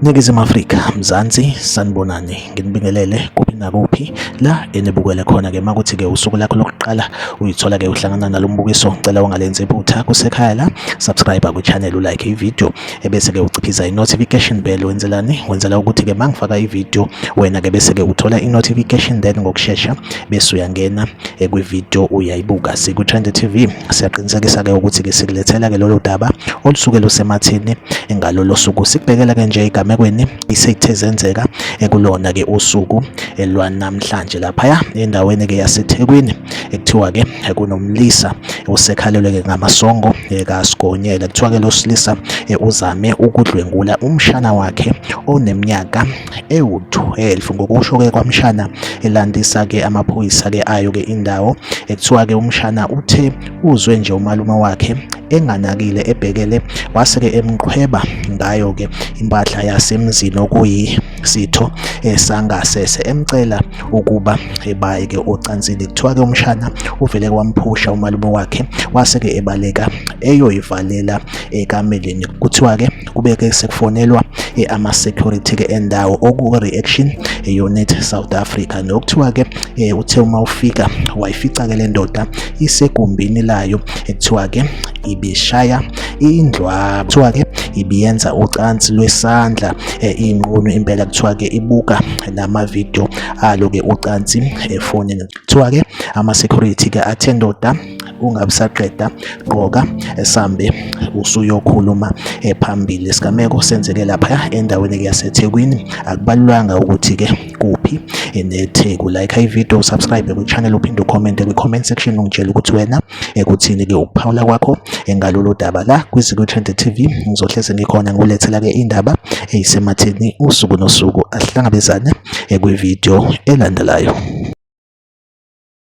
Ningizimu Afrika, Mzansi, sanibonani. Nginibingelele kuphi nakuphi la enibukele khona ke makuthi ke usuku lakho lokuqala uyithola ke uhlangana nalombukiso. Ngicela ungalenzi iphutha kusekhaya la, subscribe ku channel, u like i video. ebese-ke uciphisa i-notification bell wenzelani wenzela ukuthi-ke uma ngifaka ividiyo wena-ke bese-ke uthola i-notification then ngokushesha bese uyangena eh, kwividiyo uyayibuka siku-trend tv siyaqinisekisa-ke ukuthi-ke sikulethela-ke lolo daba olusuke lusemathini ngalolo suku sikubhekela-ke nje egamekweni isethe zenzeka ekulona-ke eh, usuku eh, lwanamhlanje laphaya endaweni-ke yasethekwini ekuthiwa ke kunomlisa osekhalelwe ke ngamasongo kaSigonyela kuthiwa ke losilisa uzame ukudlwengula umshana wakhe oneminyaka ewu-12 ngokusho ke kwamshana elandisa ke amaphoyisa ke ayo ke indawo ekuthiwa ke umshana uthe uzwe nje umalume wakhe enganakile ebhekele wase-ke emqhweba ngayo-ke impahla yasemzini okuyisitho esangasese emcela ukuba ebaye ke ocansini kuthiwa ke umshana uvele kwamphusha umalume wakhe wase ke ebaleka eyoyivalela ekameleni kuthiwa ke kube ke sekufonelwa ama security ke endawo oku reaction unit South Africa nokuthiwa ke uthe uma ufika wayifica ke le ndoda isegumbini layo ekuthiwa ke ibishaya indlwaba kuthiwa ke ibiyenza ucansi lwesandla eh, inqunu impela kuthiwa ke ibuka namavidiyo alo ke ucansi efonini kuthiwa ke ama-security ke athe ndoda ungabusaqeda gqoka esambe usuyokhuluma phambili isigameko senzeke lapha endaweni yasethekwini akubalulanga ukuthi ke kuphi enetheku like ivideo subscribe kwichannel uphinde ucommente kwi-comment section ungitshela ukuthi wena ekuthini-ke ukuphawula kwakho ngalolu daba la kwiZiko Trend TV ngizohlezi ngikhona ngulethela-ke indaba eyisematheni usuku nosuku ahlangabezane kwividiyo elandelayo